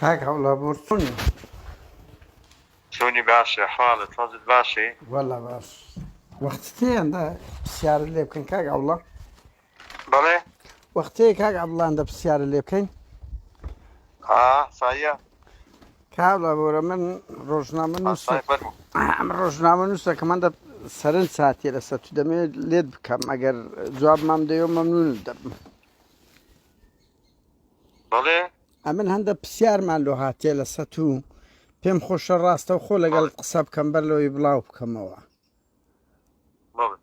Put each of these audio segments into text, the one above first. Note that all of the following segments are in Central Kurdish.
کاک هەوڵابوور چۆنی؟ چۆنی باشە حاڵت حەزت باشی؟ وەلا باش وەختتێندا پرسیارت لێ بکەین کاک ئەوڵە بەڵێ وەختێ کاک ئەبڵاندە پرسیارە لێ بکەین سایە کاڵە بۆرە من ڕۆژنامە ئەم ڕۆژنامە نووسە کە من دە سەرنج ساتێ لەسەر تو دەمێت لێت بکەم ئەگەر جواب مام دەیەوە مەمنون دەبم بەڵێ ئەمن هەندە پرسیارمان لۆ هاتێ لە سەت و پێم خۆشە ڕاستە و خۆ لەگەڵ بەڵێ قسە بکەم بەر لەوەی بڵاو بکەمەوە بەڵێ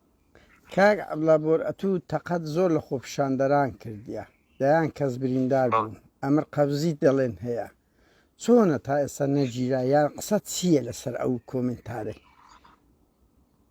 کاک عبلا بۆر ئەتوو تەقەت زۆر لە خۆپیشاندەران کردیە دەیان کەس بریندار بەڵێ بوون ئەمر قەبزیت دەڵێن هەیە چۆنە تا ئێستا نەگیرا یان قسە چییە لەسەر ئەو کۆمنتارەی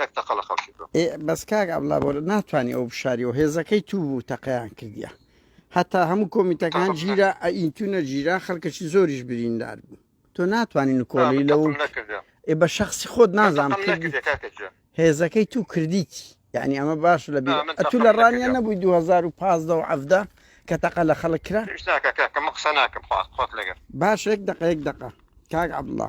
نەک تەقە لە خەڵکی بکەم. ئێ بەس کاک عەبدوڵا بۆ ناتوانی ئەو بشاریەوە هێزەکەی تو بوو تەقەیان کردیە هەتا هەموو کۆمیتەکان ژیرا ئەئینتونە ژیرا خەڵکەشی زۆریش بریندار بوو تۆ ناتوانانی نکۆڵی لەو ئێ بە شخصی خۆت نازان هێزەکەی تو کردیتی یعنی ئەمە باش لە تو لە ڕانیان نەبووی 2015 و عەفدا کە تەقە لە خەڵک کرا قسە ناکەم خۆت لەگەر باش یەک دقەیەک دقە کاک عبدڵە